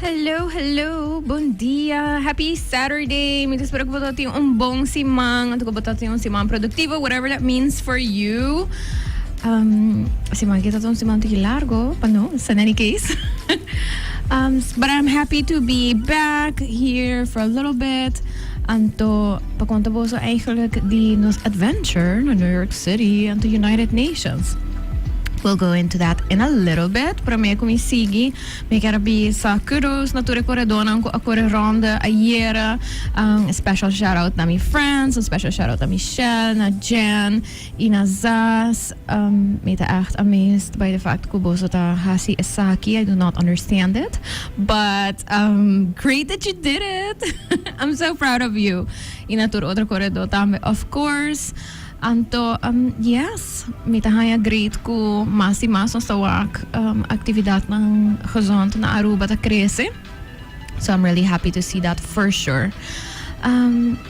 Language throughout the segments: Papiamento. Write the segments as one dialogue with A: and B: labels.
A: Hello, hello, bon dia, happy Saturday. Mi ta spera ku bo ta tin un bon siman, anto ku bo ta tin un siman produktivo, whatever that means for you. Um, siman aki ta un siman tiki largo, but no, it's in any case. um, s- but I'm happy to be back here for a little bit. Anto, pa conta boso eigenlijk di nos adventure na New York City anto United Nations? We'll go into that in a little bit. Prome cu mi sigui, mi ker a bisa kudos na tur e coredonan cu a core ronde ayera. Um, a special shout-out na mi friends, a special shout-out na Michelle, na Jen, I na zas mi ta echt amazed by de fact cu boso ta haci esaki, I do not understand it but great that you did it I'm so proud of you y na tur otro corredor tambe of course anto yes mi ta haya great cu mas y mas nos ta wak actividadnan gezond na Aruba ta crece so I'm really happy to see that for sure.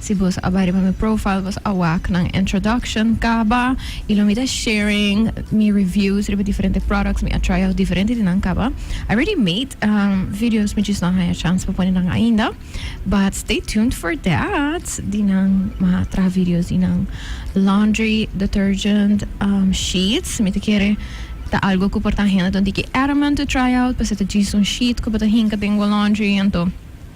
A: Si bos a bai riba mi profile bos a wak nan introduction kaba y lo mi ta sharing mi reviews riba diferente products mi a try out diferente di nan kaba I ready made videos mi just no a haña chance pa pone nan ainda but stay tuned for that di nan mi a traha videos di nan laundry detergent sheets mi ta kere ta algo cu por ta hende donde ki Ereman to try out p'esei ta djis un sheet cu bo ta hinca den bo laundry anto.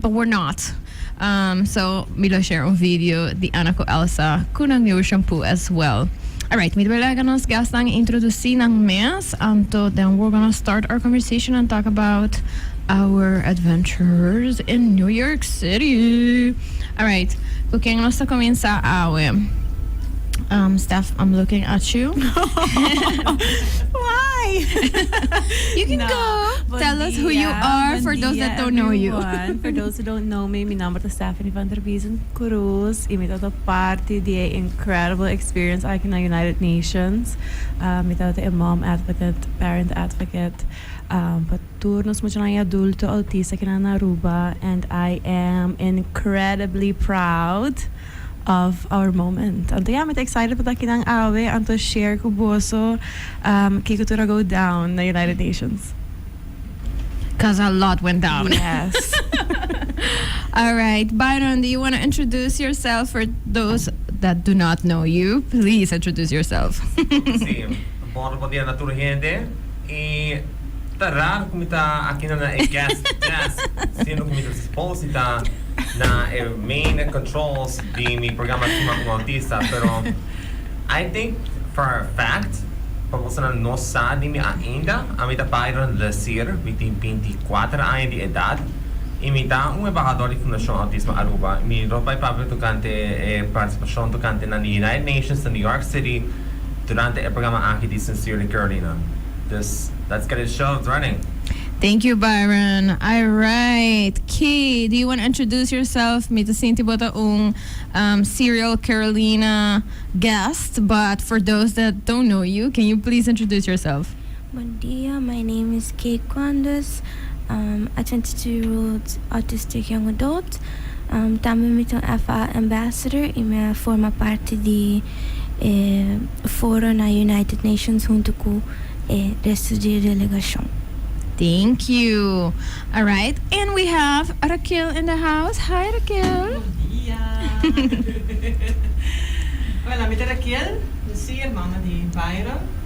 A: But we're not um so mi lo share un video di Anna cu Elsa cu nan new shampoo as well alright mi ta bai laga nos guestnan introduci nan mes anto den we're gonna start our conversation and talk about our adventures in New York City alright cu ken nos ta cuminsa awe um Steph I'm looking at you
B: Why? You
A: can go. Tell us who you are for those that don't
B: know you. Bon dia everyone. For those who don't know me, mi nomber ta Stephanie van der Biesen Cruz y mi tabata parti di e incredible experience aki na United Nations. Um mi tabata e mom advocate, parent advocate, um pa tur nos muchanan y adulto autista aki na Aruba and I am incredibly proud. of our moment. Anto ya, mi ta excited pa ta akinan awe anto share cu boso kico tur a go down na United Nations.
A: Cuz a lot went down. Yes. Alright Byron, do you wanna introduce yourself for those that do not know you? Please introduce yourself. Oke si,
C: bon bon dia na tur hende. I ta raro cu mi ta akinan na e guest desk siendo cu mi ta suposi ta. na e main controls di mi programa Kima Un Autista pero I think for a fact pa bosonan no sa di mi ainda a mi ta Byron Lesier mi tin binti i kuater aña di edad i mi ta un embahador di Fundashon Autismo Aruba i mi ropa i papia tokante e partisipashon tokante nan di United Nations na New York City durante e programa aki di Sincerely Carolina dus let's get it show is running. Thank you
A: Byron. Alright Kay, do you wanna introduce yourself? Mi ta sinti bo ta un Serial Carolina guest but for those that don't know you can you please introduce yourself? Bon dia,
D: my name is Kay Quandes, um a twenty two year old autistic young adult, um tambe mi ta un FA ambassador y mi a forma parti di. e foro na United Nations huntu ku e restu di e delegashon. Thank
A: you. Alright and we have Raquel in the house. Hi Raquel. Buenos dia. Hola, mi ta Raquel. Mi si hermano di
E: Byron.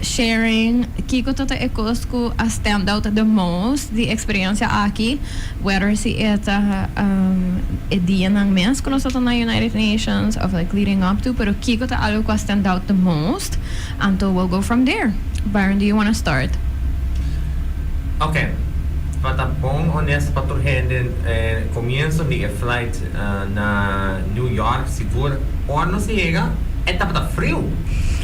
A: Sharing, Kiko tota e kos ku a stand out the most di eksperiencia aki, whether si e ta e dianan mes ku nos a ta na United Nations of like leading up to, pero kiko ta algo ku a stand out the most? Anto we'll go from there. Byron, do you wanna start?
C: Oké, pa ta bon honesto pa tur hende, e komienso di e flight, na New York sigur ora nos yega e tabata friu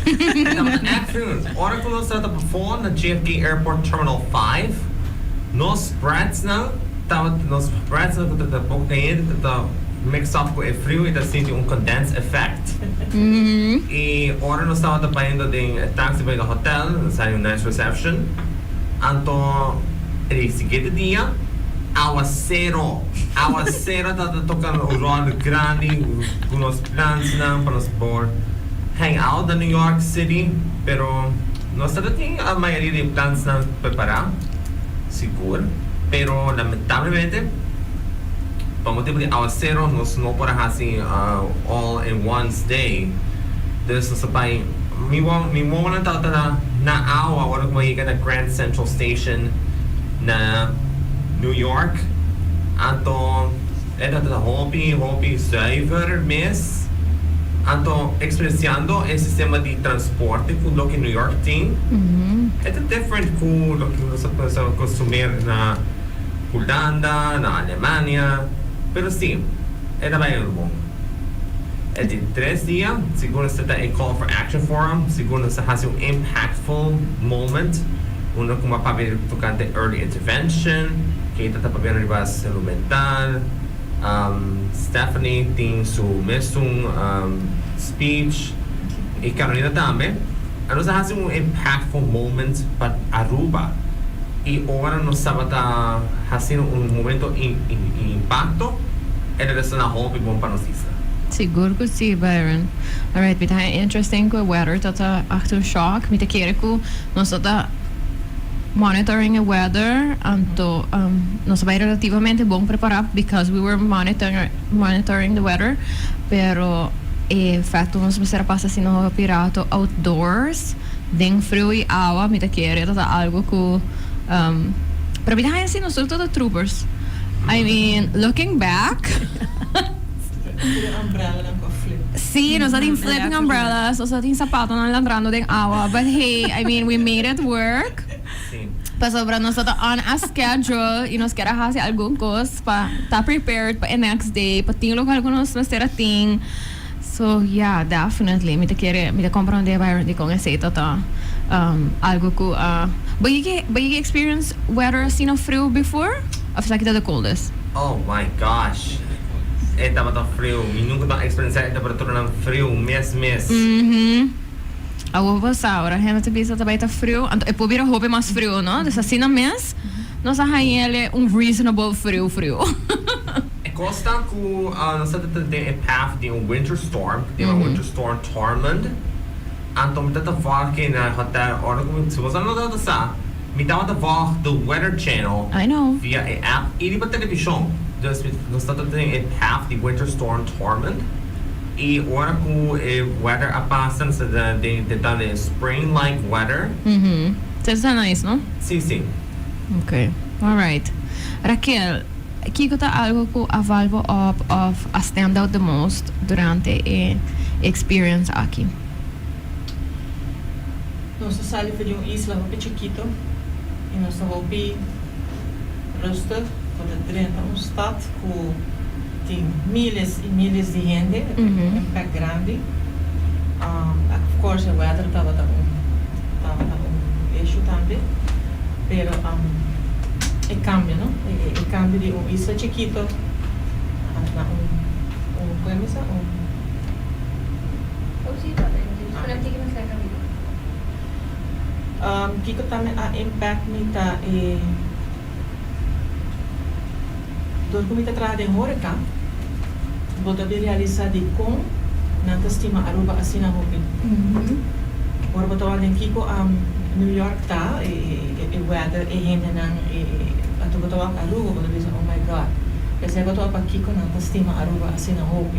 C: e tabata echt friu ora cu nos trata bafo na JFK Airport Terminal Five nos bretsnan tabata nos bretsnan cu ta boca cayente ta ta mix up cu e friu y ta sinti un condensed effect y ora nos tabata bayendo den e taxi bay den hotel nos a haña un nice reception anto e di siguiente dia awa cero. Aguacero ta ta toca un rol grandi cu nos plansnan pa nos por hang out na New York City, pero nos ta ta tin a mayoria di e plansnan prepara, sigur, pero lamentablemente pa motibu di aguacero nos no por a haci all in one stay, dus nos a bay, mi guagua, mi guaguanan tabata na awa ora cu a yega na Grand Central Station. na New York. Anto e tabata hopi, hopi zuiver mes. Anto experienciando e sistema di transporte cu loke New York tin, e ta different cu loke cu nos ta pensa consumer na Hulanda, na Alemania. Pero si, e ta bay rumo. E tin tres dia, sigur nos ta ta e call for action forum, sigur nos ta haci un impactful moment Unda kuma papia tokante early intervention, ke ita ta papia riba salud mental. Stephanie tin su mesun speech y Carolina tambe. Nos a hasi un impactful moment pa Aruba y ora nos tabata haciendo un momento di impacto e regresa hopi bon pa nos isla. Sigur cu
A: si, Byron. Alright, mi ta interesting cu e weather ta ta aftershock. Mi ta kere cu. Nos a ta monitoring e weather, anto nos a bai relativamente bon prepará because we were monitoring the weather, pero e efecto nos mester a pasa si nos a hopi rato outdoors den friu i awa mi ta kere esta ta algo cu pero mi ta haña si nos tur ta troopers, I mean looking back. Sí, nos a tin flipping umbrellas, nos a tin sapatonan landrando den awa, but hey, I mean, we made it work. Pasobra nos tabata on a schedule y nos kier a haci algun cos pa ta prepared pa e next day, pa tin local cu nos mester a tin. So, ya, definitely mi ta kere, mi ta comprende Byron di con esey tabata algo cu a... Bo yega, bo yega experience weather asina friu before? After aki ta the coldest. Oh my
C: gosh e tabata friu mi nunca ta experiencia e temperaturan friu mes mes. Mhm
A: awor bo ta sa ora hende ta bisa ta bai ta friu anto e por bira hopi mas friu no dus asina mes nos a haña ele un reasonable friu friu.
C: E cos ta cu nos ta ta den e path di un winter storm cu diba winter storm Tormund anto mi ta ta wak aki na hotel ora cu mi si bo sa no ta ta sa. Mi tabata wag de Weather Channel via e
A: app y riba
C: television. Dus mi nos ta tene e path di Winter Storm Torment y ora cu e weather a pasa nos ta dentan den e Spring like weather. Sa ta
A: nice no? Si, si.
C: Ok,
A: alright. Raquel, kico ta algo cu a wal bo op of a stand out the most durante e experience aki?
E: Nos a sali for di un isla hopi chikito i nos ta hopi rustig. Bo ta drenta un stat ku tin miles i miles di hende. E ta un impèkt grandi. Of course e wèder tabata un tabata un issue tambe. Pero e kambio no. E kambio di un isla chikito na un, un, ku e mesa? Un. Pero kiko mi serka di Dios? Kiko ta mi a impact mi ta e Dor ku mi ta traha den horeca, bo ta bin realisa di kon nan ta stima Aruba asina hopi. Ora bo ta wak den kiko New York ta, e weather, e hendenan, e anto bo ta wak Aruba bo ta bisa oh my God. P'esei bo ta wak pa kiko nan ta stima Aruba asina hopi.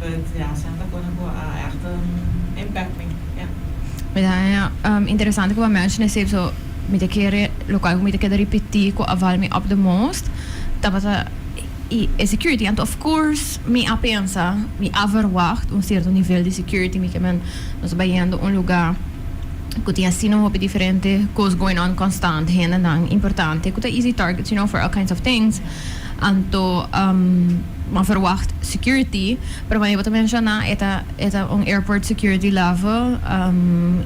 E: But ya, Santa Cona cu a echt
A: impact mi, ya. Mira, e interesante cu bo a menshona esey, so mi ta kere local cu mi ta keda ripeti cu a val mi op the most tabata y e security, anto of course mi a pensa, mi a verwacht un cierto nivel di security, mi kimen nos ta bayendo un luga cu tin asina hopi diferente cos going on constant, hendenan importante cu ta easy targets, you know, for all kinds of things. Anto bo verwacht security, pero como bo ta menciona e ta e ta un airport security level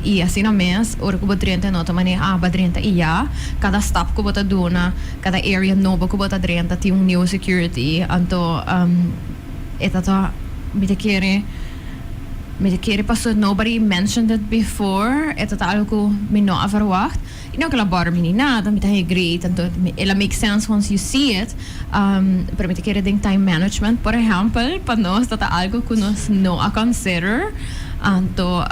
A: y asina mes ora cu bo drenta en otro manera aba drenta y ya. Cada stap cu bo ta duna, cada area nobo cu bo ta drenta tin un new security. Anto e ta ta mi ta kere mi ta kere pasobra nobody mentioned it before, e ta ta algo cu mi no a verwacht. I no kel a bòrda mi ni nada, mi ta hegri, tantu el a make sense wans yu si it, pero mi ta kere den time management, por ehèmpel, pa nos dat ta algu ku nos no a consider, anto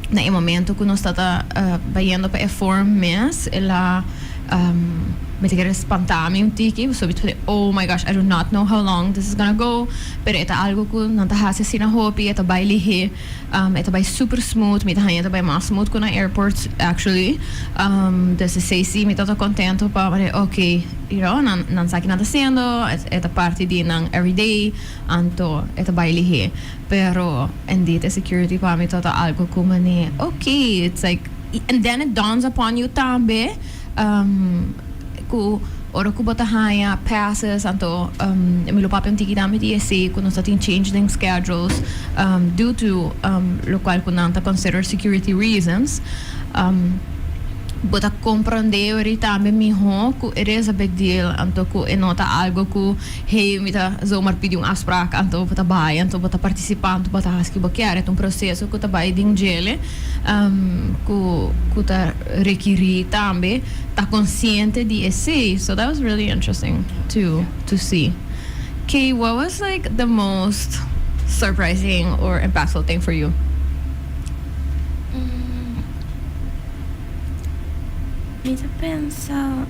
A: na e momento ku nos ta ta bayendo pa e form mes, el a mi ta kere spantá mi un tiki, pasobra mi ta bisti, oh my gosh, I do not know how long this is gonna go, pero e ta algu ku nan ta hasi asina hopi, e ta bai lihé. E ta bai super smooth, mi ta haña e ta bai mas smooth ku na airport actually, des esei si mi ta ta kontento pa ward'é oke you know nan nan sa ki nan ta hasiendo, e ta parti di nan everyday, anto e ta bai lihé. Pero indeed e security pa mi ta ta algo ku mane oke it's like and then it dawns upon you tambe. cu ora cu bo ta haña passes anto mi lo papia un tiki dami di ese cu nos ta tin change den schedules due to locual cu nan ta consider security reasons. Bo ta comprende weri tambe miho cu it is a big deal anto cu e no ta algo cu hey mi ta zomaar pidi un afspraak anto bo ta bay anto bo ta participa anto bo ta haci ki bo kier. E ta un proceso cu ta bay den djele. cu ta requiri tambe ta consciente di esey. So that was really interesting to to see. Key, what was like the most surprising or impactful thing for you?
D: Mi ta pensa.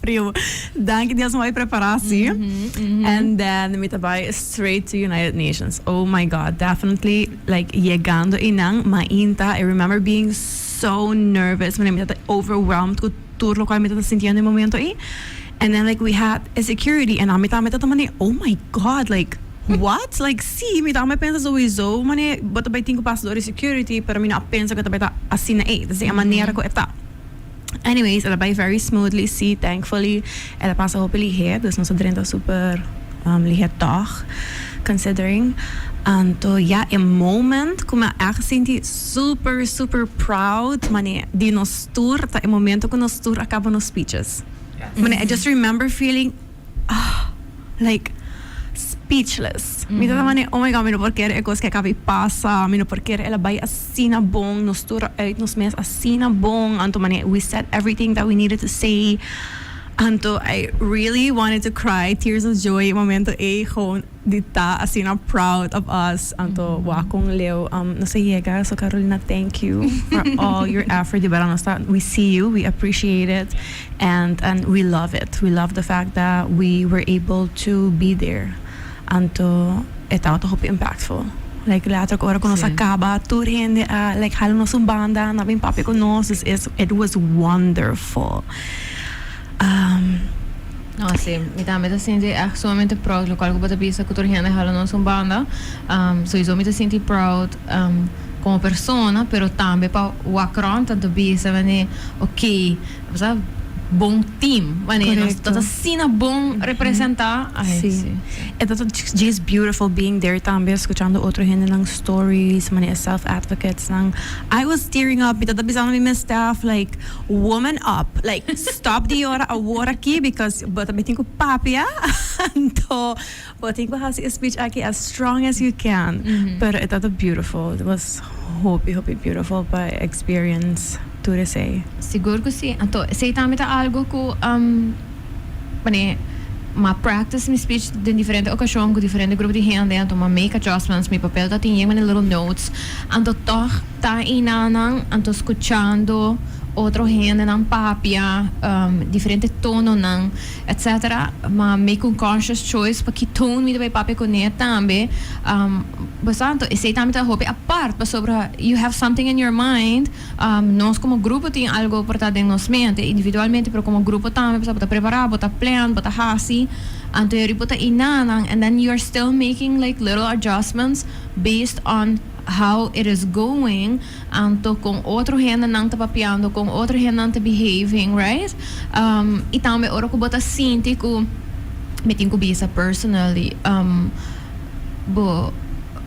B: Primo, danki di esmoy preparasi. And then mi ta bai straight to United Nations. Oh my God, definitely like yegando einan, mainta I remember being so nervous, mi ta overwhelmed cu tur locual mi ta sintiendo e momento ei. And then like we had e security en ami tambe ta tuma den, oh my God, like what? Like si, mi tambe pensa sowiso mane bo ta bai tin cu pasa dor di security, pero mi no a pensa cu e ta bai ta asina ei, ta esei e manera cu e ta. Anyways, el a bai very smoothly si, thankfully. El a pasa hopi liher, dus nos a drenta super liher tòg, considering. Anto ya, e moment ku mi a ègt sinti super, super proud manera di nos tur, ta e momento ku nos tur a kaba nos speeches. Manera, I just remember feeling. ah, like speechless. Mi ta tamba den, oh my god, mi no por kere e kos ke a kabi pasa, mi no por kere el a bai asina bon, nos tur a uit nos mes asina bon, anto mane we said everything that we needed to say, anto I really wanted to cry, tears of joy, e momento ei, gewoon. di ta asina proud of us anto wak cu un leu nos a yega so Carolina thank you for all your effort di verdad nos ta we see you we appreciate it and and we love it we love the fact that we were able to be there anto e tabata hopi impactful like later cu ora cu nos a caba tur hende a like hala nos un banda a bin papia cu nos dus is it was wonderful.
A: No asi, mi tambe ta sinti echt sumamente proud, locual cu bo ta bisa cu tur hende hala nos un banda. Sowieso mi ta sinti proud como persona, pero tambe pa Wacron ta ta bisa mane ok, bo sa bon team, mane nos ta ta sina bon representa. Ai si.
B: E ta ta djes beautiful being there tambe, scuchando otro hendenan stories, mane e self advocates nan. I was tearing up, mi ta ta bisando mi mes staff like. Woman up like stop di yora awor aki because bo ta mitin cu papia anto bo tin cu haci e speech aki as strong as you can pero e ta ta beautiful it was hopi hopi beautiful pa experience tur esey. Sigur cu si
A: anto esey tambe ta algo cu mane m'a practice mi speech den diferente ocasion cu diferente grupo di hende anto m'a make adjustments mi papel ta tin yen mane little notes anto tog Ta enanan, anto scuchando otro hendenan papia, diferente tononan, etc. Ma make un conscious choice pa ki tone mi ta bay papia cuné tambe. Boso anto esey tambe ta hopi apart, pasobra you have something in your mind, nos como grupo tin algo por ta den nos mente, individualmente pero como grupo tambe, pasobra bo ta prepara, bo ta plan, bo ta haci, anto yari bo ta enanan and then you're still making like little adjustments based on. how it is going anto con otro hende nan ta papiando con otro hende nan ta behaving right um y tambe ora cu bo ta sinti cu mi tin cu bisa personally um bo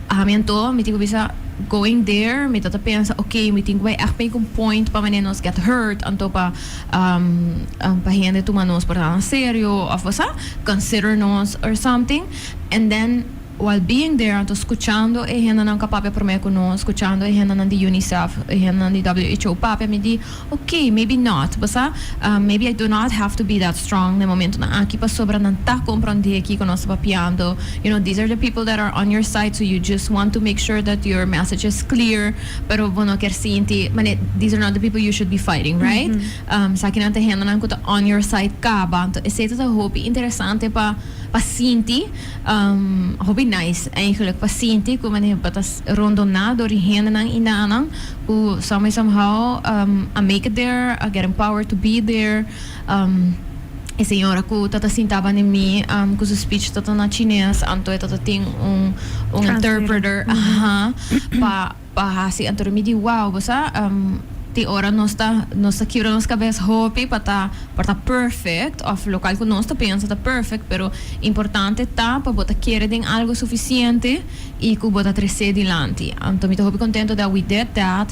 A: ami anto mi tin cu bisa going there mi ta ta pensa ok mi tin cu bay echt make un point pa mane nos get hurt anto pa um pa hende tuma nos por ta nan serio of bo sa consider nos or something and then While being there anto scuchando e hendenan cu a papia prome cu nos, scuchando e hendenan di UNICEF, e hendenan di who papia mi di, ok, maybe not, bo sa, maybe I do not have to be that strong na e momentonan aki pasobra nan ta comprende ki cu nos ta papiando, you know, these are the people that are on your side, so you just want to make sure that your message is clear, pero bo no kier sinti, mane, these are not the people you should be fighting, right? Esakinan ta e hendenan cu ta on your side caba, anto esey ta hopi interesante pa, pa sinti. Hopi nice eigenlijk pa sinti cu manera bo ta rondoná door di hendenan y nananan cu some way some how a make it there, a get empowered to be there. E señora cu ta ta sintaba ne mi cu su speech ta ta na Chines anto e ta ta tin un interpreter pa. Pa hasi anto di mi di wou, bo sa, tin ora nos ta nos ta kibra nos kabes hopi pa ta pa ta perfect of lokal ku nos ta pensa ta perfect pero importante ta pa bo ta kere den algo sufisiente i ku bo ta trese dilanti. Anto mi ta hopi kontento dat we did that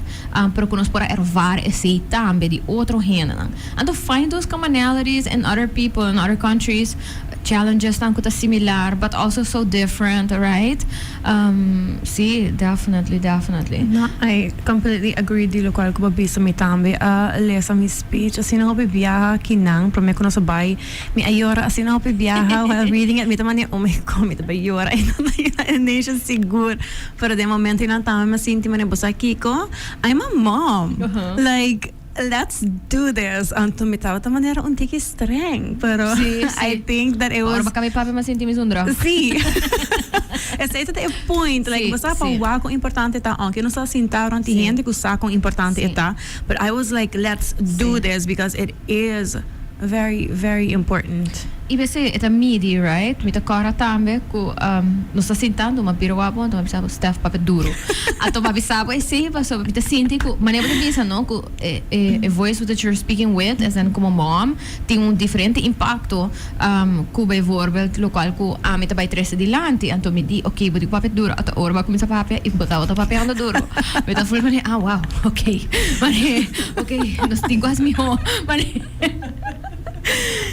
A: pero ku nos por a ervare esei tambe di otro hendenan. Anto find those commonalities in other people in other countries, challengesnan ku ta similar but also so different, right? Um, si, definitely, definitely. No,
B: I completely agree di locual cu bo a bisa. Mi tambe a lesa mi speech asina hopi biaha aki nan, prome cu nos a bay. Mi a yora asina hopi biaha while reading it. Mi ta mane, oh my God, mi ta bay yora y nan ta yora e nation sigur. Pero den momento y nan tambe mi a sinti mane, bo sa kico? I'm a mom. Like. Let's do this! Anto mi tabata manera un tiki streng, pero I think that it was. Ora bo caba e papia mi sinti mi esun
A: drug. Sí.
B: Esei ta e point, like bo sa pa wak con importante ta, aunque nos ta sinta rond di hende cu sa con importante e ta, but I was like let's do this because it is. Very very important. Y besé e ta
A: midi right. Mi ta corra tambe cu nos ta sintando ma bira wak bo a toma bisa bo Steph papia duro a toma bisa bo esey pasobra mi ta sinti cu manera bo ta bisa no cu e voice with that you're speaking with as in como mom tin un diferente impacto cu bijvoorbeeld locual cu ami ta bay trece dilanti anto mi di ok bo di papia duro ata ora bo a cuminsa papia y bo tabata papiando duro mi ta voel manera ah wow. Ok, pane, ok, nos tin ku as mihó, pane,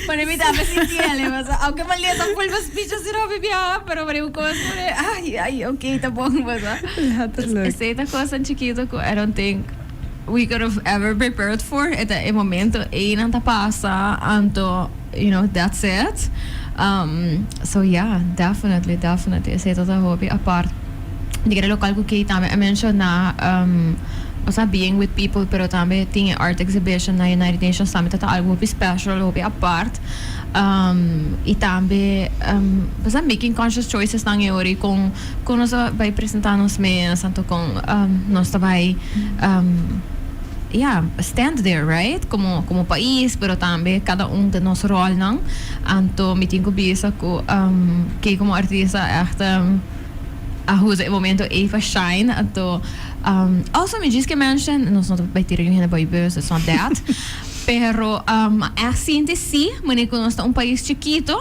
A: pane mi ta hape sinti ale paso, aunke Malia ta full mas picha si Robby biaha, pero pane un kos pane, ay, ay, ok, ta bon paso. Letterlijk. Esei ta kosnan chikito ku I don't think we could have ever prepared for. E ta e momento ei nan ta pasa, anto. You know that's it um so ya definitely definitely esey ta ta hopi apart di kere lokal ku key tambe a mentiona um osea being with people pero tambe tin e art exhibition na United Nations tambe ta ta algo hopi special hopi apart um y tambe um besa making conscious choices nan e ori con con nos ta bay presenta nos mes anto con um nos ta bay um Ya, stand there, right? Komo komo pais, pero tambe kada un den nos rolnan. Anto mi tin ku bisa ku ke komo artista ègt a usa e momento ei pa shine. Anto also mi djis ke mention, nos no ta bai tira yu hende bai bus, it's not that. Pero a ègt sinti si, manera ku nos ta un pais chikito,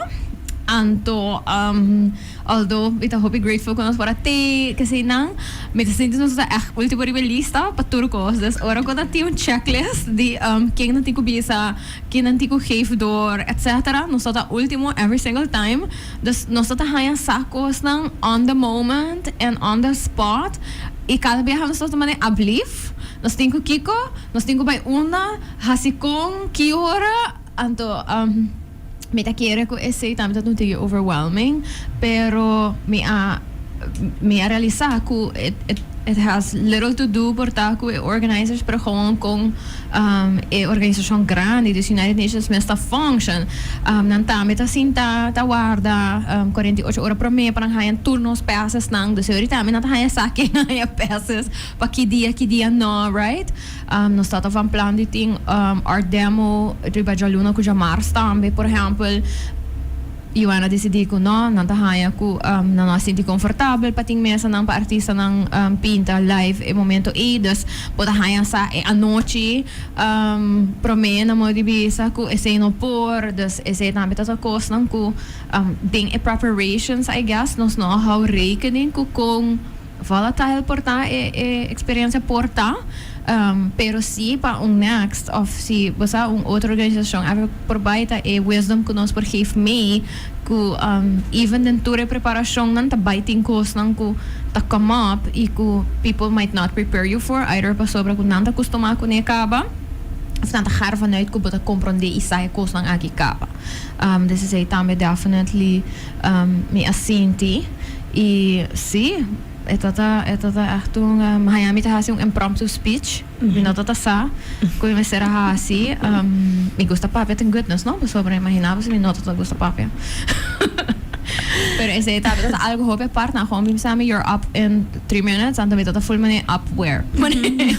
A: anto. Although mi ta hopi grateful cu nos por a te kesey nan, mi ta sinti nos ta echt ultimo riba e lista pa tur cos. Dus ora cu ta tin un checklist di ken nan tin cu bisa, ken nan tin cu geef door, etc. Nos ta ta ultimo every single time. Dus nos ta ta haya sa cosnan on the moment en on the spot. Y cada biaha nos ta ta mane ablief, nos tin cu kico, nos tin cu bay unda, haci con, ki ora. Anto. Mi ta kere ku esei tambe ta tunti yu overwhelming, pero mi a mi a realisá ku it, it, it has little to do por ta ku e organisers, pero gewoon kon um, e organisashon grandi, dus United Nations mes ta function. Um, nan tambe ta sinta ta warda um, cuarenta y ocho ora promé pa nan haña tur nos pasesnan. Dus e ori tambe nan ta haña esaki, nan haña pases pa ki dia, ki dia no, right? Nos ta ta van plan di tin art demo riba djaluna cu djamars tambe. Por ehempel, UNA dicidi cu no, nan ta haya cu nan no a sinti confortabel pa tin mesanan pa artistanan pinta live e momento ey. Dus bo ta haya sa e anochi prome nan mor di bisa cu esey no por. Dus esey tambe ta ta cosnan cu den e preparations, I guess, nos no a hou rekening cu con. Vala ta hel por ta e experiencia? Por ta, pero si pa un next of si bo sa un otro organisacion a por bay ta e wisdom cu nos por geef mee cu even den tur e preparacionnan ta bay tin cosnan cu ta come up y cu people might not prepare you for either pasobra cu nan ta custuma cune e caba of nan ta gara vanuit cu bo ta compronde y sa e cosnan aki caba. This is a tambe definitely. Mi a sinti y si, e ta ta e ta ta echt un maña mi ta haci un impromptu speech, mi no ta ta sa cu mi mester a haci. Mi gusta papia ten goodness no, pasobra imagina bo si mi no ta ta gusta papia. Pero esey ta ta algo hopi apart na gewoon bim sa mi you're up in three minutes anto mi ta ta full mane up where mane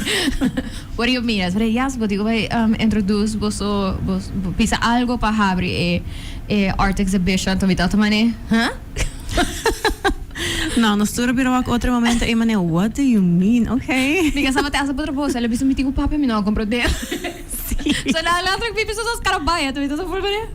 A: what do you mean? Esey yes bo digo bay introduce boso bo bisa algo pa habri e E art exhibition ta bita otra mane, huh?
B: No, nos tur a bira wak otro momento ey mane, what do you mean? Okay. Mi kasa mate asa potro
A: boso, el a bisa mi tin un papia mi no a compra ot den. So nan nan tra bibi so so skara bai, a ta bita so full mane.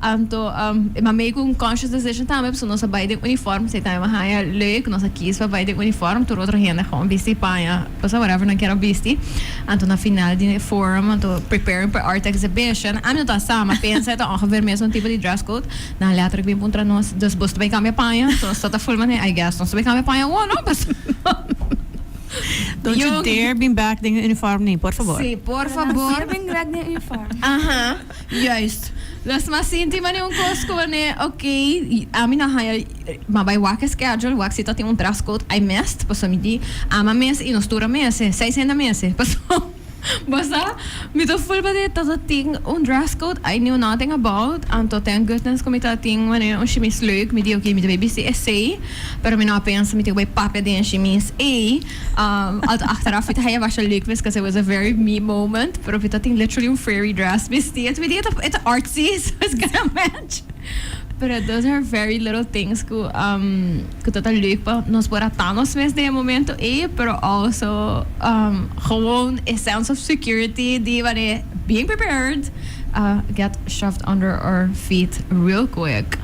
A: Anto um e ma make un conscious decision tambe paso nos a bai den uniform, esey tambe mi a haña leuk, nos a kies pa bai den uniform, tur otro hende a gou bisti paña. Cosa whatever nan kier a bisti. Anto na final di e forum, anto preparing pa e art exhibition, a mi no ta sa, ma pensa e ta ongeveer mesun tipo di dress code, nan a letterlijk bin puntra nos, dus boso ta bay cambia paña? Anto nos tabata full manera, I guess nos ta bay cambia paña awor, no? Pasobra.
B: Don't you dare bin back den e uniform ni, por fabor. Sí, por fabor. Nan sier
A: bin grek den e uniform.
D: Aha.
A: Juist. Los mas sinti mane un cos scone, ok, ami no a haya, ma bay wak e schedule, wak si ta tin un dress code ay mest, paso mi di ama mes y no stura mes, seis hende mes, paso bo sa mi ta full padehe ta ta tin un dress code, ay knew nothing about, anto thank goodness cu mi ta tin mane un shimis leuk, mi di ok mi ta bay bisti esey, pero mi no a pensa mi tin cu bay papia den e shimis ey. Alto achteraf mi ta haja basha leuk wees cause it was a very me moment, pero mi ta tin literally un fairy dress bisti and mi tin e ta artsy so it's gonna match. Pero those are very little things cu um cu ta ta leuk pa nos por a ta nos mes den e momento ey, pero also um gewoon e sense of security di wanneer e bien prepared a get shoved under our feet real quick.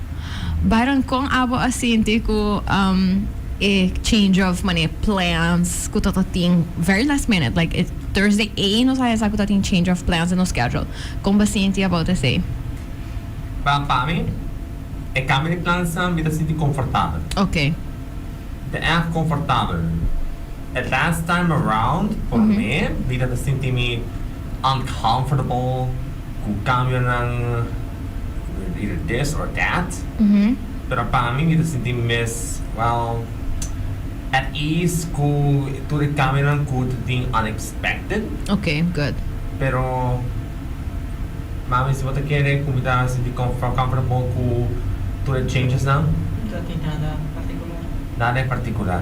A: Byron, con abo a sinti cu um. E change of mane plans ku ta ta tin very last minute like e Thursday ey nos a hesa ku ta tin change of plans den nos schedule. Kon bo sinti about esey? Wel pa
C: mi e kambio di plans nan mi ta sinti konfortabel. Okay. Mi
A: ta
C: erg konfortabel. E last time around por mi mi ta ta sinti mi uncomfortable Cu cambionan either this or that. Pero pa mi mi ta sinti mes well at ease cu tur e cambionan cu ta tin unexpected. Ok, good.
A: Pero
C: mami si bo ta kere cu mi ta sinti comfort comfortable cu tur e changes nan? No ta tin nada
E: particular. Nada e particular.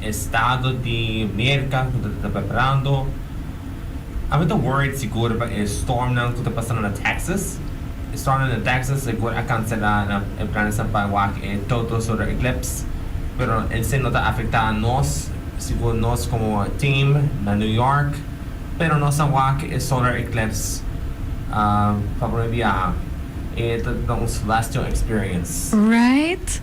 C: Estado di Merka ku ta ta preparando. A mi ta worried sigur pa e stormnan ku ta pasando na Texas. E stormnan na Texas sigur a kanselá e planesnan pa wak e total solar eclipse. Pero esei no ta afektá nos, sigur nos komo team na New York. Pero nos a wak e solar eclipse pa prome biaha. E ta ta un celestial experience. Right?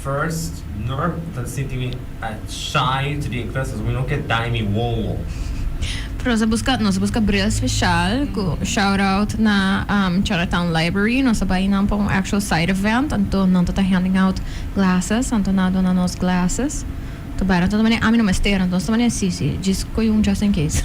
C: First Nurp ta sinti mi a chai to di inglés pasobra mi no ke daña mi wowo. Pero
A: se buska nos a buska bril special cu shout out na Chinatown Library nos a bay nan pa un actual side event anto nan ta ta handing out glasses anto nan a dona nos glasses ta bai anto nan ta mane ami no mester anto nos ta mane si si djis coyo un just in case.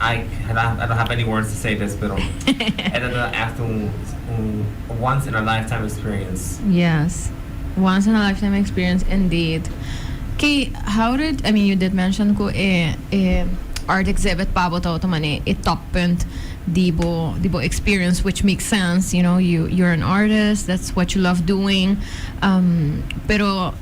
C: Ai, e ta e ta hap'e di words to say this pero e
A: ta ta echt un un once in a lifetime experience. Yes, once in a lifetime experience indeed. Ki how did, I mean you did mention ku e e art exhibit pa bo ta otro manera e top punt di bo di bo experience which makes sense, you know, you you're an artist, that's what you love doing, um, pero.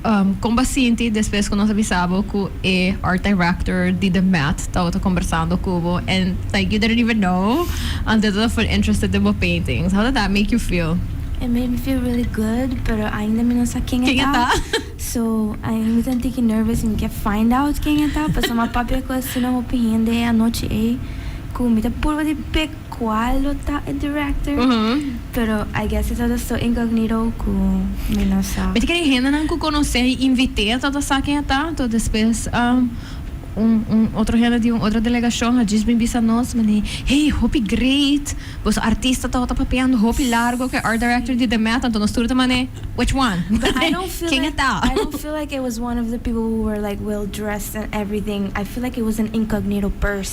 A: Kon bo a sinti despues ku nos a bisa bo ku e artdirector di The Met tabata kombersando ku bo en like you didn't even know antes tabata full interested den bo paintings? How did that make you feel? It made me feel
D: really good, pero ainda mi no sa ken e ta, so mi ta un tiki nervous i mi ke find out ken e ta, pasobra mi a papia ku asina hopi hende e anochi ei ku mi ta purba di pek. cual lo ta e director, pero I guess e tabata so incognito cu mi no sa. Mi ta kere hendenan cu
A: conoce y invite a tabata sa ken a ta, to despues un un otro hende di un otro delegacion a djis bin bisa nos mani, hey, hopi great, boso artista tabata papeando hopi largo cu e art director di The Met, anto nos tur ta mane, which one? But I don't feel like, I
D: don't feel
A: like
D: it was one of the people who were like well dressed and everything, I feel like it was an incognito person.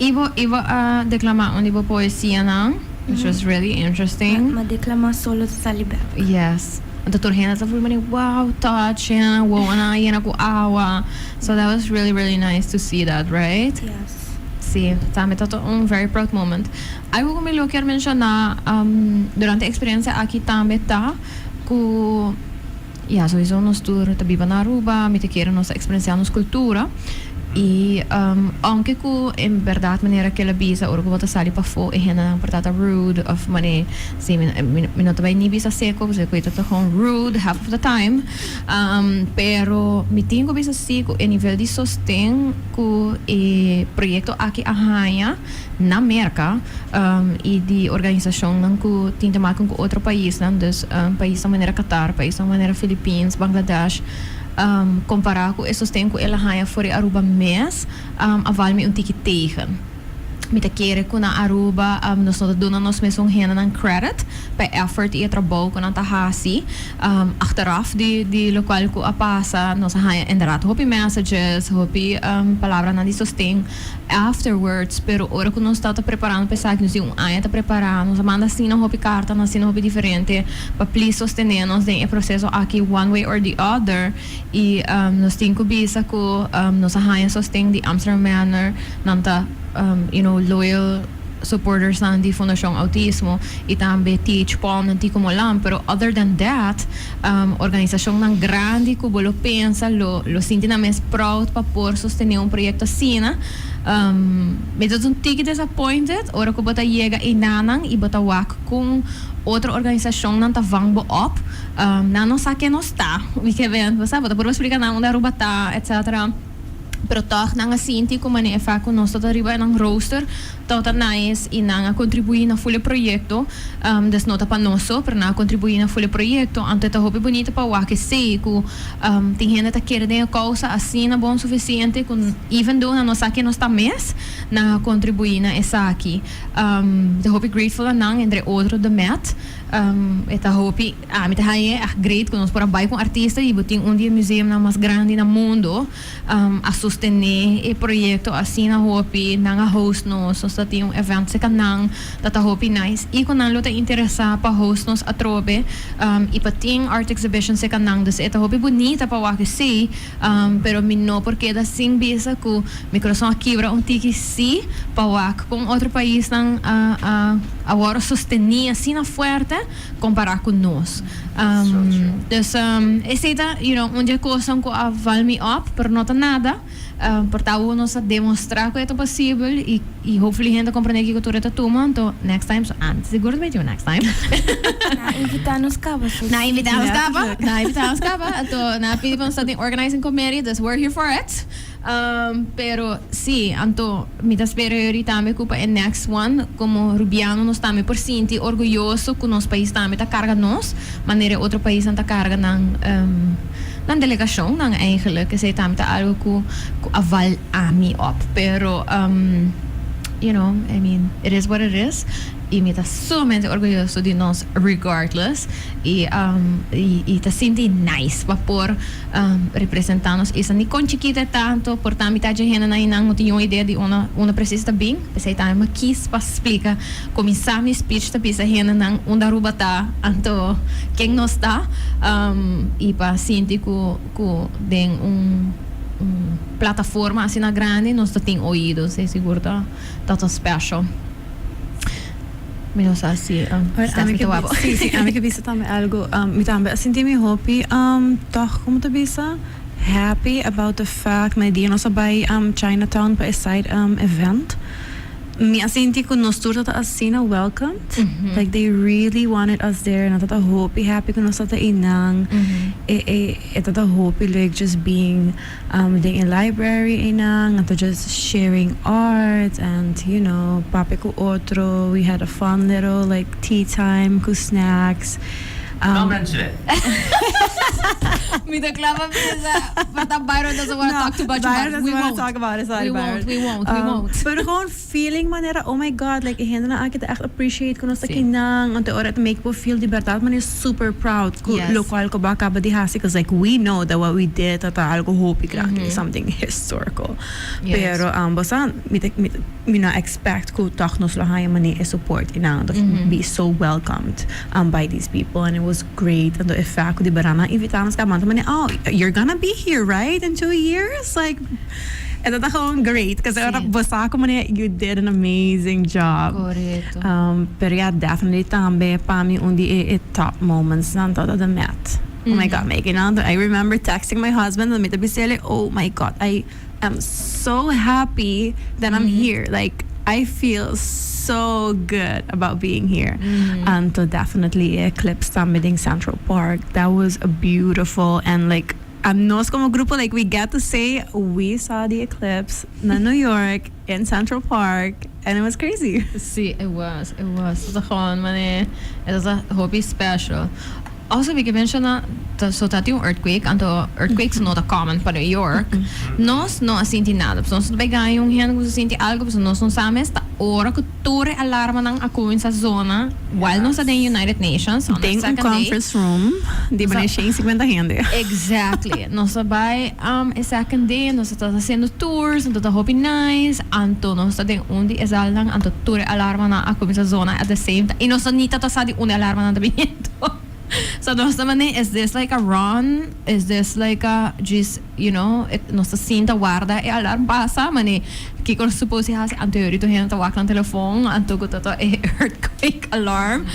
D: I bo i bo
A: a declama un di bo poesianan, which was really interesting. Ma declama solo
D: ta sali bek. Yes. Enton
A: tur hende ta voel mane wow, touching, wowonan a yena cu awa. So that was really, really nice to see that, right? Yes. Sí,
D: tambe
A: ta ta un very proud moment. Algo cu mi lo kier menciona, um, durante e experiencia aki tambe ta cu, Ya, souiso nos tur ta biba na Aruba, mi ta kere nos ta experenciá nos cultura. I ounke cu en berdad manera kel a bisa ora cu bo ta sali pafó e hendenan por ta ta rude of mane si, mi mi mi no ta bai ni bisa seco pasobra cu e ta tahon rude half of the time. Pero mi tin cu bisa si cu e nivel di sosten cu e proyecto aki a haña. na Merka i di organisashonnan ku tin te maken ku otro paisnan, dus paisnan manera Qatar, paisnan manera Filipins, Bangladesh. Kompará ku e sosten ku el a haña for di Aruba mes, a val mi un tiki tegen. Mi ta kere ku na Aruba nos no ta duna nos mesun hendenan kredit pa e èfòrt i e trabou ku nan ta hasi. Achteraf di lokual ku a pasa nos a haña inderdaad hopi messages, hopi palabranan di sosten. Afterwards, pero ora cu nos tata preparando pa esaki, nos tin un aña ta prepara, nos a manda asina hopi carta na asina hopi diferente pa please sostene nos den e proceso aki one way or the other y nos tin cu bisa cu nos a haya sosten di Amsterdam Manor, nan ta you know loyal supportersnan di Fundacion Autismo y tambe TH Paul, nan tin cu molan, pero other than that, Organisacionnan grandi cu bo lo pensa lo sinti nan mes proud pa por sostene un proyecto asina. Mi ta un tiki disappointed ora cu bo ta yega enanan y bo ta wak con otro organisacionnan ta vang bo op. Nan no sa ken nos ta, wie ke bent, bo sa. Bo ta purba splica nan unda Aruba ta, etc. pero tòg nan a sinti ku manera e fak ku nos tabata riba nan rooster tòg ta nice i nan a kontribuí na ful e proyekto, des no ta pa nos so, pero nan a kontribuí na ful e proyekto, anto e ta hopi bunito pa wak esei ku tin hende ta kere den e kousa asina bon sufisiente ku even though nan no sa ke nos ta mes, nan a kontribuí na esaki. E ta hopi grateful na nan entre otro The Met, e ta hopi. Ah, mi ta hañ'e èg great ku nos por a bai ku un artista i bo tin un di e museumnan mas grandi na mundo a sostené e proyekto asina hopi, nan a host nos, nos ta tin un evènt sekannan, dat ta hopi nice. I ku nan lo ta interesá pa host nos atrobe i pa tin art exhibition sekannan, dus e ta hopi bunita pa wak sí, pero mi no por keda sin bisa ku mi kurason a kibra un tiki sí pa wak kon otro paisnan a wòrdu sostení asina fuerte compara cu nos. Dus esey ta you know un dje cosnan cu a val mi op, pero no ta nada, por ta awor nos a demostra cu e ta posibel y y hopefully hende a comprende kico tur e ta tuma, anto next time, so antes di Gurdo Veintiuno next time. Na invita
D: nos caba so. Na invita nos caba, na invita nos caba,
A: anto na pidi pa nos ta den organizing committee, dus we're here for it. Pero si, anto mi ta spera yori tambe cu pa e next one como Rubiano nos tambe por sinti orguyoso cu nos pais tambe ta carga nos manera e otro paisnan ta carga nan nan delegacionnan eigenlijk. Esey tambe ta algo cu cu a val ami op. Pero you know, I mean, it is what it is. y mi ta suramente orguyoso di nos regardless y y ta sinti nice pa por representa nos esa ni con chikito e ta anto por ta mita dje hendenan y nan no tin un idea di unda unda precies ta bin p'esey tambe mi a kies pa splica cuminsa mi speech ta bisa hendenan unda Aruba ta anto ken nos ta y pa sinti cu cu den un un plataforma asina grandi nos ta tin oido esey sigur ta ta ta special. Mi no sa si um, Well, a Stephanie mi te ke wou bi- sí, sí, a mi ke bisa tambe
B: algo. Um, mi tambe a sinti mi hopi um, tòg, como te bisa? Happy about the fact na e dia nos a bai um, Chinatown pa e side um, event. Mi a sinti cu nos tur tabata asina welcomed. Like they really wanted us there en a tabata hopi happy cu nos tabata einan. E, e, e tabata hopi lek just being Den e library eynan a ta just sharing art and you know papia cu otro, we had a fun little like tea time cu snacks. No mencion'é. Mi ta clama mesa pa ta Byron doesn't
C: wanna talk too
A: much about it. We won't. We won't. We won't. We
B: won't. Feeling manera oh my God like e hendenan aki ta echt appreciate cu nos ta aki nan anto ora e ta make bo feel di berdad manera super proud cu locual cu bo a
A: caba di
B: haci cuz like we know that what we did ta ta algo hopi grandi like something historical pero
A: bo sa
B: mi ta mi no a expect cu toch nos lo haya manera e support y nan anto be so welcomed by these people and it was great anto e fact cu di beranan invita nos caba manera oh you're gonna be here right in two years like. E ta gewoon great cuz ora bo sa cu manera you did an amazing job. Correcto. Um,
A: pero ja,
B: definitely tambe pa mi un di e, e top moments nan ta ta The Met. Oh my god, Maggie, no? Do I remember texting my husband en mi ta bis'e like, oh my god, I am so happy that I'm here. Like, I feel so good about being here. Anto definitely e eclipse tambe den Central Park, that was beautiful and like, Nos como grupo like we get to say we saw the eclipse na New York in Central Park and it was crazy. Sí, it was,
A: it was. Ta gou un manera, e ta ta hopi special. Also mi ke menciona, ta so ta tin un earthquake, anto earthquakes no ta common pa New York. Nos no a sinti nada, pasobra nos no ta bay gan un hende cu ta sinti algo, pasobra nos no sa mes ta ora cu. Tore alarmanan a cuminsa zona while nos ta den United Nations. On the second day. Den un conference room
B: di bini shen cincuenta hende. Exactly.
A: Nos ta bay um e second day nos ta ta haciendo tours anto ta hopi nice anto nos ta den un di e zalnan anto tur e alarmanan a cuminsa zona at the same time y nos ta ni ta ta sa di unda e alarmanan ta bini anto so nos ta mane is this like a run is this like a djis You know, nos ta sinta warda e alarm pasa, mane kiko nos suppose hasi? Anto e ori tur hende ta wak nan telefon, anto ku toto e earthquake alarm,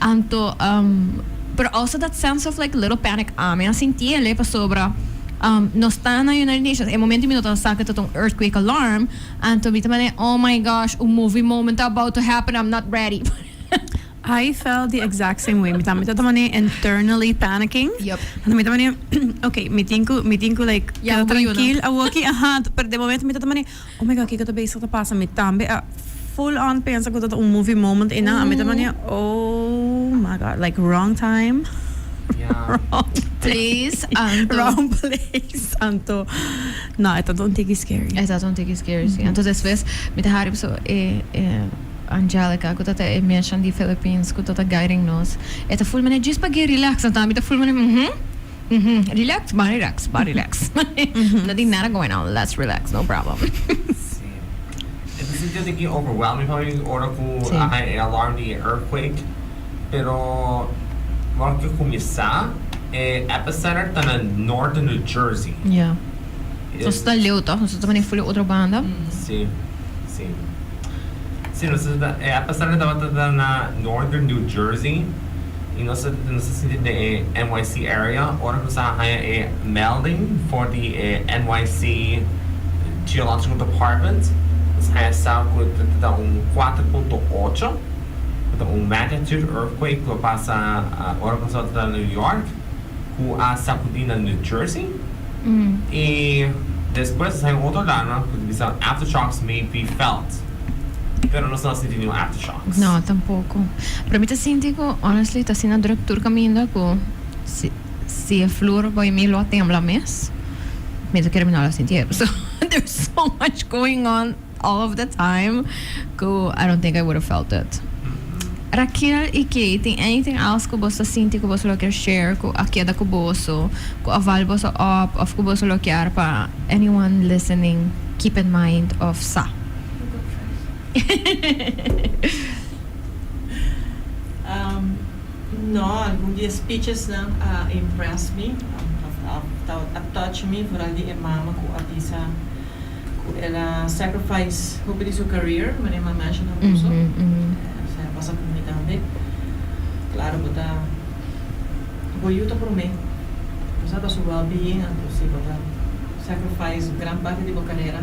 A: anto, um, pero also that sense of like little panic ami a sinti ele pasobra, um, nos ta na United Nations, e momento mi no tabata sa ku e tabata un earthquake alarm, anto mi ta mane, oh my gosh, un movie moment ta about to happen, I'm not ready. I
B: felt the exact same way. Mi tambe ta tamané internally panicking. Yep. Anto mi ta mané, ok, mi tin ku, mi tin ku like, Ya keda boei uno. trankil
A: awoki,
B: aha. Pero den momento mi ta ta mané, oh my god, kiko ta bezig ta pasa? Mi tambe a full on pensa ku ta ta un movie moment einan. A mi ta mané, oh my god, like wrong time, wrong Place,
A: anto. wrong
B: place, anto. No, e tabata un tiki scary. E tabata un tiki scary,
A: si. Anto despues mi ta haru biso, eh, eh. Angelica, cu ta ta e meshnan di Philippines cu ta ta guiding nos, e ta full manera djis pa guia relax, no ta? Mi ta full manera uhm, uhm, relax, ba relax, ba relax. No tin nada going on, let's relax, no problem.
C: Sí. E ta sinti asiki overwhelming pa mi ora cu Sí. a haña e alarm di e earthquake, pero ora cu e cuminsa, e epicenter ta na norte New Jersey. Ya.
A: Nos ta leu toch? Nos no ta mane ful e otro banda? Sí,
C: sí. Sí, nos ta, e aña pasá mi tabata ta na Northern New Jersey i nos ta, nos ta sinti den e NYC area. Ora ku nos a haña e melding for di e NYC Geological Department, nos a haña sa ku ta tabata un kuater punto ocho, ku ta un magnitude earthquake ku a pasa ora ku nos tabata ta New York. ku a sakudí na New Jersey i despues nos a haña otro dana ku ta bisa aftershocks may be felt pero nos no a sinti niun aftershocks. No, tampoko.
A: Pero mi ta sinti ku honestly ta asina druk tur kaminda ku si si e flur by mi lo a tembla mes mi ta kere mi no lo a sinti e. So there's so much going on. All of the time ku I don't think I would've felt it. Raquel y Kay tin anything else ku boso ta sinti ku boso lo kier share ku a keda ku boso, ku a val boso op of ku boso lo kier pa anyone listening keep in mind of sa?
E: No, algun di e speeches nan a impress mi, a touch mi, vooral di e mama ku a bisa. cu el a sacrifice hopi di su career, mane Mama Ashley ta puso. Ujú, ujú. Eh, Señor, pasa cu mi tambe. Claro, bo ta, bo yu ta prome. Bo sa pa su well being anto si bo ta sacrifice gran parti di bo carera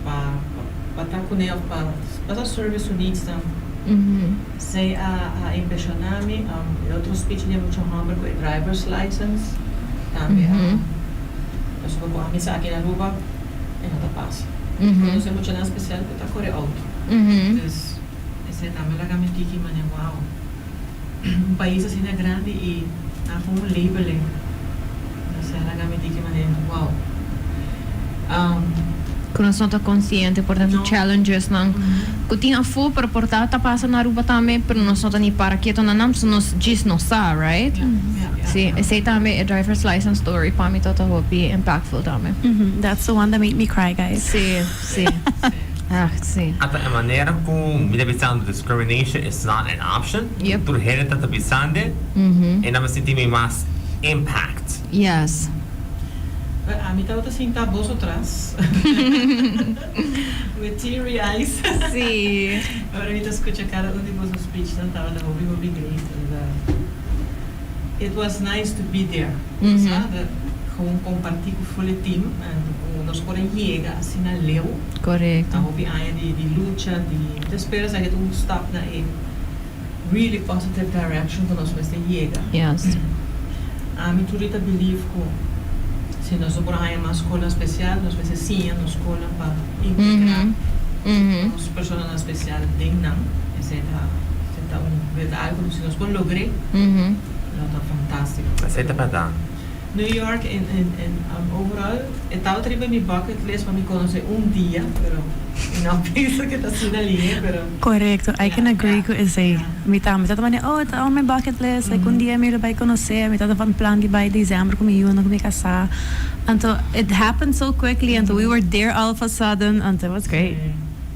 E: pa, pa, pa ta cune of pa pasa service su needs nan. Ujú. Se a a impresiona mi, e otro speech di e mucha homber cu e driver's license tambe a Nos lo cu ami sa aki na Aruba e no ta pasa. Mi conoce e muchanan special cu ta core auto. Entonces esey tambe a laga mi tiki mane wow un pais asina grandi y nan haci un label e. Sara gami di ki manera,
A: wow. Um. Cu nos no ta consciente por tanto challengesnan cu tin afo pero por ta ta pasa na Aruba tambe pero nos no ta ni para keto na nan pasobra nos djis no sa, right? Si, esey tambe e driver's license story pa mi ta ta hopi impactful tambe. Mhm, that's the one that
B: made me cry guys. Si, si.
A: Ach, si. Ata e manera
C: cu mi ta bisa discrimination is not an option. Ie tur hende ta ta
A: bisande
C: e nan mester tin mi mas impact. Yes.
E: Well ami tabata sinta boso tras with teary eyes
A: ora mi ta scucha
E: cada un di boso speech nan tabata hopi hopi great and the it was nice to be there sa the gewoon comparti cu full e team and cu nos por a yega asina leu na hopi
A: aña
E: di lucha di mi ta spera esaki ta un stap na e really positive direction cu nos mester yega. Yes.
A: Ami
E: tur di ta believe cu si nos ta por a haña mas scola special nos mester siña nos scola pa integra nos personanan special den nan. Esey ta esey ta un meta algo si nos por logr'e lo ta fantastico. Esey ta bardad.
C: New York
E: en en en overall e tabata riba mi bucket list pa mi conoce un dia pero mi no a pensa que
B: ta asina li he pero. Correcto I can agree cu esey mi tambe tabata manda oh ta on mi bucket list like un dia mi lo bay conoce mi tabata van plan di bay December cu mi yunan cu mi casa anto it happened so quickly anto we were there all of a sudden anto it was great.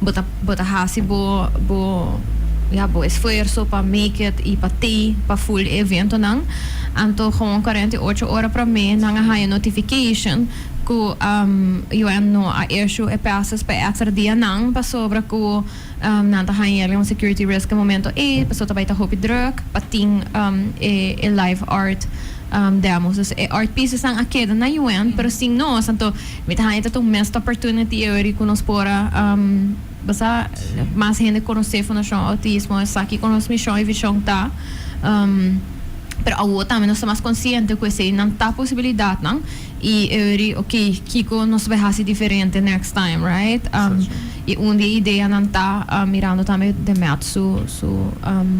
A: Bo ta bo ta hasi bo bo ya bo esfuerso pa make it y pa tey pa full e eventonan. Anto gewoon cuarenta y ocho ora prome nan a haya notification cu UN no a issue e passes pa e extra dianan pasobra cu nan ta haya yalga un security risk e momento ey paso ta bay ta hopi druk pa tin e e live art demos. Dus e art piecesnan a keda na UN pero sin nos anto. Mi ta haña ta ta un mest opportunity e ori cu nos por a basa mas hende conoce Fundacion Autismo, esaki cu nos mision y vision ta. Pero awor tambe nos ta mas consciente cu esey nan ta posibilidadnan y e ori ok, kico nos bay haci diferente next time, right? Y un di e ideanan ta mirando tambe de Matt su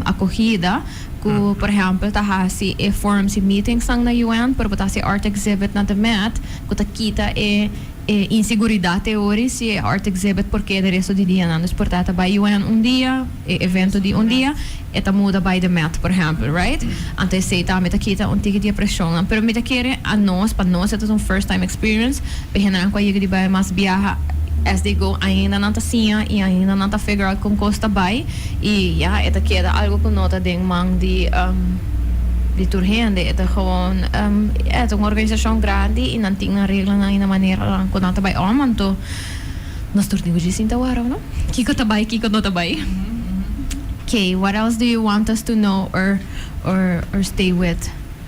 A: acogida. ku por ehèmpel ta hasi e forums i meetingsnan na UN, pero bo ta hasi e art exhibit na The Met, ku ta kita e e inseguridat e ori si e art exhibit por keda resto di dianan. Dus por ta e ta bai UN un dia, e evento di un dia, e ta muda bai The Met, por ehèmpel, right? Anto esei tambe ta kita un tiki di e preshonnan. Pero mi ta kere a nos, pa nos e ta un first time experience, Enan ku a yega di bai mas biaha as they go ainda nan ta siña i ainda nan ta figure out kon kos ta bai i ya e ta keda algu ku no ta den man di di tur hende e ta gewoon ya e ta un organisashon grandi i nan tin nan reglanan i nan maneranan ku nan ta bai òm anto nos tur tin ku djis sinta wòrdu no kiko ta bai kiko no ta bai ke what else do you want us to know or or or stay with.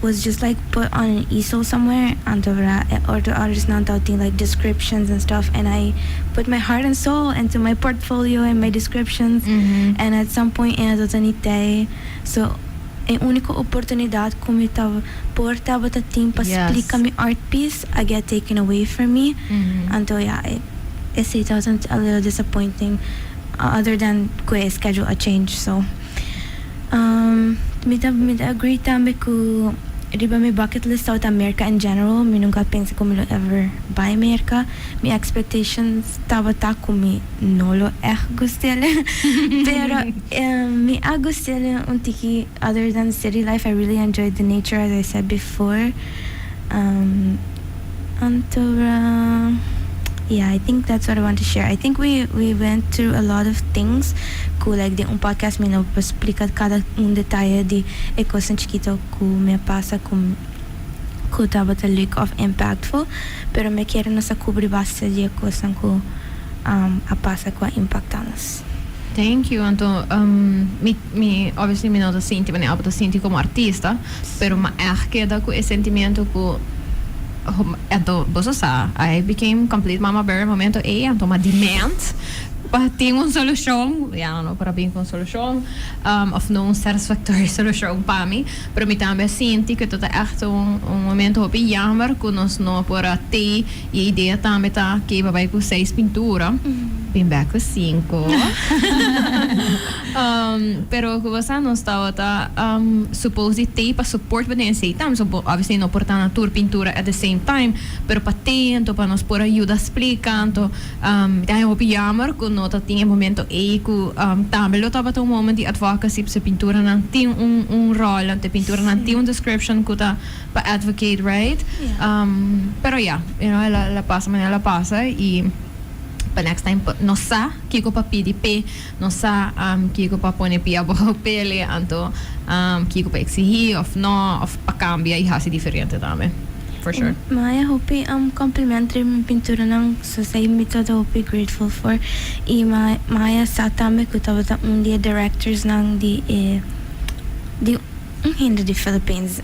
D: was just like put on an easel somewhere anto verda e otro othersnan tao tin like descriptions and stuff and I put my heart and soul into my portfolio and my descriptions and at some point ena tabata ni tei so e unico oportunidad cu mi ta por tabata tin pa splica mi art piece a get taken away from me anto ya e esey tabata a little disappointing other than cu e schedule a change so. Mi ta mi ta agree tambe cu riba mi bucket list South America in general. Mi nunca a pensa cu mi lo ever bai Merca. Mi expectations tabata cu mi no lo echt gust'elë. Pero mi a gust'elë un tiki other than city life. I really enjoy the nature as I said before. Antora yeah I think that's what I want to share. I think we we went through a lot of things cu like den un podcast mi no por splica cada un detaye di e cosnan chikito cu mi a pasa cu cu tabata luk of impactful pero mi a kere nos a cubri base di e cosnan cu a pasa cu a impacta nos. Thank you
A: anto um, mi mi obviously mi no ta sinti manera apo ta sinti como artista pero ma echt keda cu e sentimiento cu ho- anto boso sa I became complete mama bear e momento ey anto ma demand pa tin un solucion ya no por a bin cu un solucion um of no un satisfactory solucion pa mi pero mi tambe a sinti cu esta ta echt un un momento hopi jammer cu nos no por a tee Y e idea tambe ta Keba bay cu seis pintura, bin bek cu cinco. Pero cu bo sa nos tabata supposed di tee pa support bo den esey tambe. So bo obviously no por ta na tur pintura at the same time, pero pa tee anto pa nos por a yuda splica anto. Ta e hopi yamer cu no ta tin e momento ey cu tambe lo tabata un moment di advocacy p'se pinturanan tin un rol anto e pinturanan tin un description cu ta. Pa advocate right pero ya you know el a pasa manera el a pasa y pa next time nos sa kico pa pidi p'e nos sa kico pa pone pia abajo p'ele anto kico pa exigi of no of pa cambia y haci diferente tambe for sure. Maya hopi
D: compliment riba mi pinturanan so sa mi ta ta hopi grateful for y Maya sa tambe cu tabata un di e directorsnan di un hende di Philippines.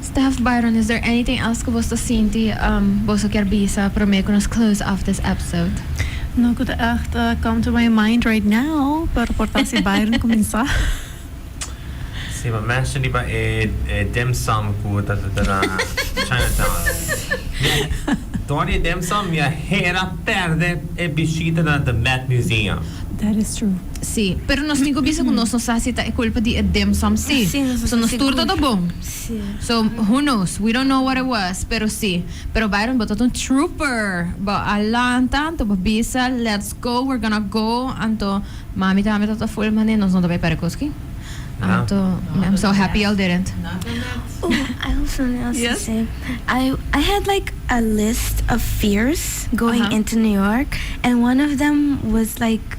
D: Steph,
A: Byron, is there anything else cu boso ta sinti boso kier bisa prome cu nos close off this episode? No cu ta
B: echt come to my mind right now, pero por ta si Byron cuminsa.
C: Si, pa mention riba e dim sum cu ta seta na Chinatown. Mira, door di e dim sum mi a hera perde e bishita na the Met Museum. That is true.
B: Sí, pero nos tin
A: cu bisa cu nos no sa si ta e culpa di e dim sum sí. Sí, nos no So ta nos tur sigur. tabata bon. Sí. So, who
D: knows?
A: We don't know what it was, pero sí. Pero Byron, bo tabata un trooper. Bo a lanta, anto bo bisa, let's go, we're gonna go. Anto, mami tambe tabata full mane, nos no ta bay pare cos aki. Ah. Anto, me, I'm so happy y'all didn't. Oh, I have something
D: else Yes. to say. I I had like a list of fears going Uh-huh. into New York, and one of them was like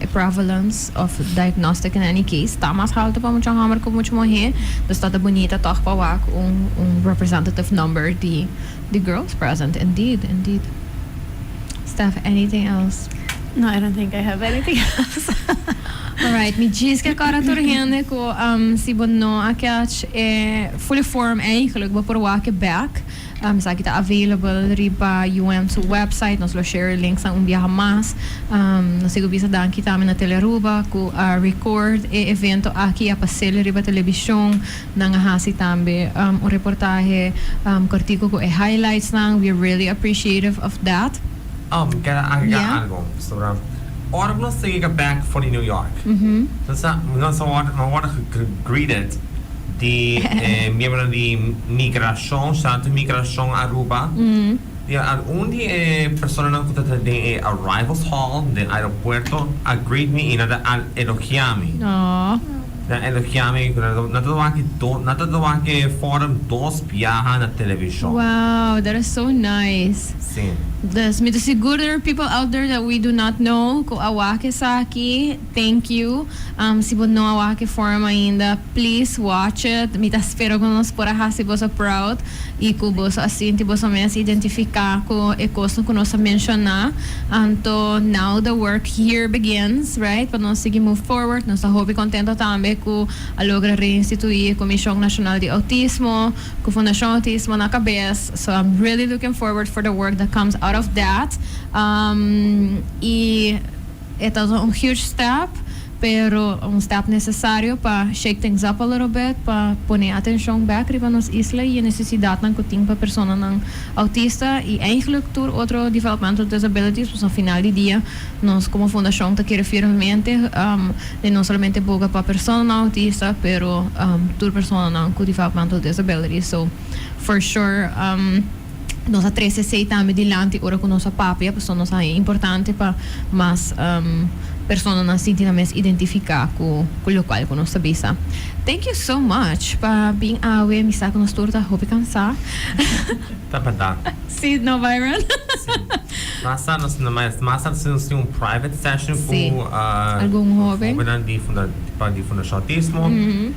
A: e prevalence of diagnostic in any case ta mas halto pa mucha homber cu mucha muhe dus ta ta bunita toch pa wak un representative number di di girls present indeed indeed Steph anything else No I don't think
B: I have anything else Alright
A: mi djis ke kora tur hende cu si bo no a catch e fule form eigenlijk bo por wak e back. Esaki ta available riba UM su website. Nos lo share e links nan un biaha mas. Nos sigu bisa danki tambe na Telearuba cu a record e evento aki, a pasel riba television. Nan a haci tambe un reportahe cortico cu e highlights nan. We are really appreciative of that. Oh, mi ker a
C: agregar algo. Pasobra ora ku nos ta yega bek for di New York, nos ta, nos a wòrdu, nos a wòrdu gegreeted di e miembronan di migrashon, Staat di Migrashon Aruba, i al un di e personanan ku ta ta den e arrivals hall den aeropuerto a greet mi i nan ta al elogia mi. Nan elogia mi cu nan ta trabaha aki dos, nan ta trabaha ke forum dos biaha na television. Wow, that is so
A: nice. Sí. Dus
C: mi ta sigur
A: that there are people out there that we do not know cu a waha ke esaki. Thank you. Um si bo no a waha ke forum ainda, please watch it. Mi ta spera cu nos por a haci boso proud y cu boso a sinti boso mes identifica cu e cosnan cu nos a menciona. Anto now the work here begins, right, pa nos sigui move forward. Nos ta hopi contento tambe cu a logra reinstitui e Comision Nacional di Autismo cu Fundacion Autismo na cabes. So I'm really looking forward for the work that comes out of that. Um y e ta un huge step. Pero un stap nesesario pa shake things up a little bit, pa pone atencion bek riba nos isla y e necesidatnan cu tin pa personanan autista y eigenlijk tur otro developmental disabilities, pues na final di dia nos como fundacion ta kere firmemente den no solamente boga pa personanan autista pero tur personanan cu developmental disabilities. So for sure. Nos a trece esei tambe dilanti ora cu nos a papia, pasobra nos a e importante pa mas personanan sinti nan mes identifica cu locual cu nos ta bisa. Thank you so much pa bin awe, mi sa cu nos tur ta hopi cansa. Ta
C: bardad. Si no Byron?
A: Si.
C: Basta nos na mas mas a haci un private session cu algun
A: hobennan di
C: Fundacion Autismo.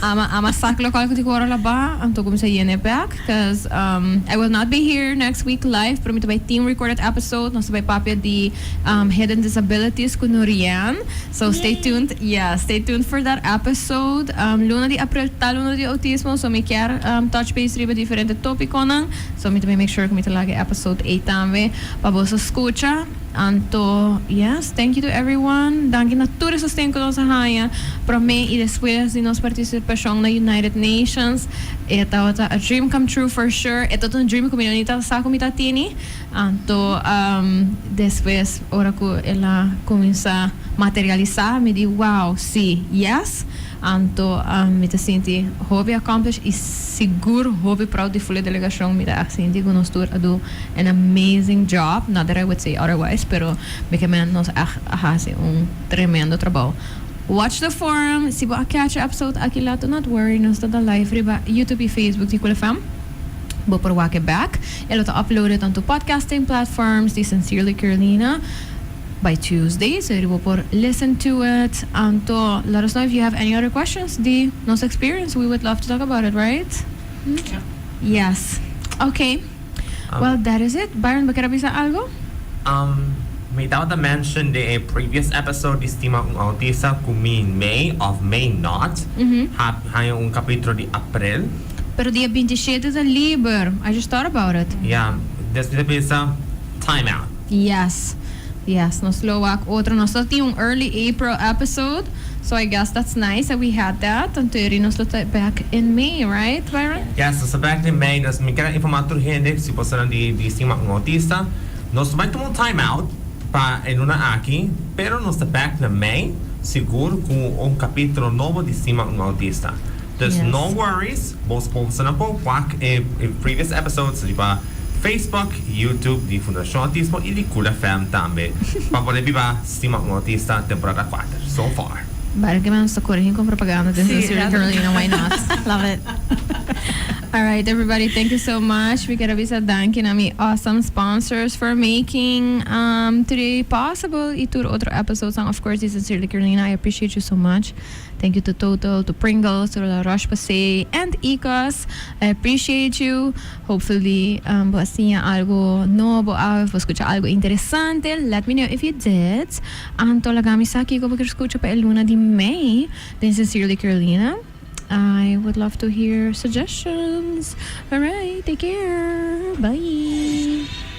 B: Ama ama sak
A: lokal ku tin ku ora la ba, anto kuminsá yena e bèk, cuz I will not be here next week live, pero mi ta bai tin recorded episode, nos ta bai papia di hidden disabilities ku Norian, so stay tuned, ya, stay tuned for that episode. Luna di april ta luna di outismo, so mi kier touch base riba diferente tópikonan, so mi ta bai make sure ku mi ta laga e episode ei tambe pa boso skucha. Anto, yes, thank you to everyone. Danki na tur e sosten ku nos a haña promé i despues di nos partisipashon na United Nations. E tabata a dream come true for sure. E tabata un dream ku mi no ni ta sa ku mi ta tini. Anto, despues ora ku el a kuminsá materialisá, mi di wow, sí, yes. Anto mi ta sinti hopi accomplished y sigur hopi proud di Fulé Delegacion. Mi ta echt sinti cu nos tur a do an amazing job, not that I would say otherwise, pero mi ke mente nos echt a haci un tremendo trabao. Watch the forum, si bo a catch e episode aki laat do not worry, nos ta da live riba YouTube y Facebook di Cool FM. Bo por wak e back. E lo ta uploaded on tur podcasting platforms di Sincerely Kerlina. By Tuesday seguro bo por listen to it anto let us know if you have any other questions di nos experience we would love to talk about it right?
E: Yes
A: ok well that is it Byron bo kier a bisa algo? Um
C: mi tabata mention den e previous episode di stima un autista cu mi may of may not ha haña un capitulo di April. Pero dia binti
A: shete ta liber I just thought about
C: it.
A: Ya
C: despues
A: ta bisa time
C: out.
A: Yes yes nos lo wak otro nos lo tin un early April episode so I guess that's nice that we had that and Terry nos lo ta back in May right Byron? Yes nos ta back in
C: May dus mi kel informa tur hende si boso nan di di stima un autista nos bai tuma un time out pa e luna aki pero nos ta back na May sigur ku un kapitulo nobo di stima un autista. Dus no worries,
A: bos
C: por sa nan por wak e previous episodes riba Facebook, YouTube di Fundacion Autismo y di Cool FM tambe pa poder biba Stima un Autista temporada cuater. So far. Baie ke mens ta
A: corigi con propaganda den San Siro y Carolina, why not? Love it. Alright everybody, thank you so much. Mi kier a bisa danki na mi awesome sponsors for making today possible y tur otro episodes of course di San Siro y Carolina. I appreciate you so much. Thank you to Total, to Pringles, to La Roche Posay and Ecos. I appreciate you. Hopefully bo a siña algo nobo awe of bo scucha algo interesante. Let me know if you did. Anto laga mi sa kico bo kier scucha pa e luna di mei den Sincerely Carolina. I would love to hear suggestions. Alright, take care. Bye.